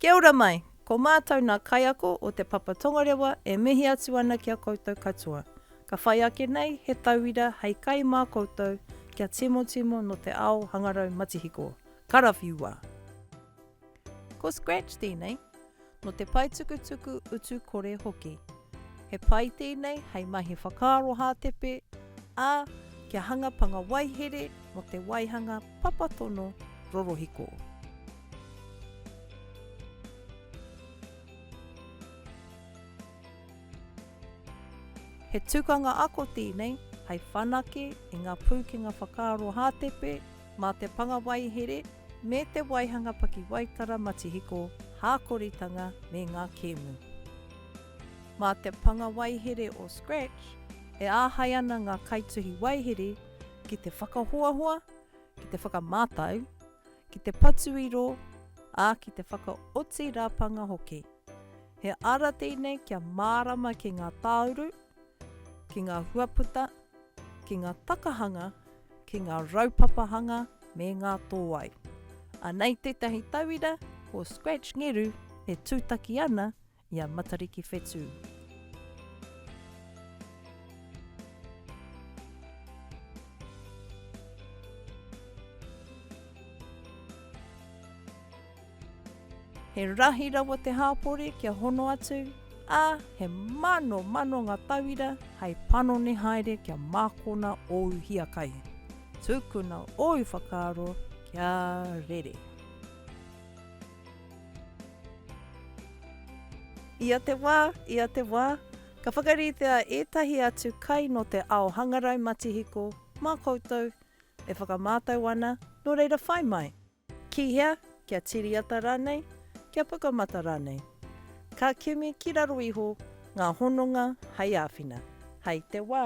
Kia ora mai! Ko mātou nā kaiako o Te Papa Tongarewa e mihi atu ana ki a koutou katoa. Ka whai ake nei he tauira hei kai mā koutou kia timotimo nō te ao hangarau matihiko. Karawhiua! Ko Scratch tēnei, nō te paetukutuku utu kore hoki. He pae tēnei hei mahi whakaaro hātepe, ā, kia hanga panga waihere mō te waihanga papatono rorohiko. He tukanga ako tēnei hai whanake i ngā pūkenga whakaaro hātepe mā te panga waihere me te waihanga pakiwaitara matihiko hākoritanga me ngā kēmu. Mā te panga waihere o Scratch e āhei ana ngā kaituhi waihere ki te whakahoahoa, ki te whakamātau, ki te patuiro, ā, ki te whakaoti rapanga hoki. He ara tēnei kia mārama ki ngā tāuru, ki ngā huaputa, ki ngā takahanga, ki ngā raupapahanga me ngā tōai. Anei tētahi tauira ko Scratch Ngeru e tūtaki ana i a Matariki Whetū. He rahi rawa te hāpori kia hono atu, ā, he mano mano ngā tauira hei panoni haere kia mākona ōu hiakai. Tukuna ōu whakaaro kia rere. Ia te wā, ia te wā, ka whakaritea ētahi atu kai nō te ao hangarau matihiko mā koutou e whakamātau ana, nō reira whai mai! Ki hea? Kia tiriata rānei? Kia pukamata rānei? Ka kimi ki raro iho ngā hononga hei āwhina. Hai te wā!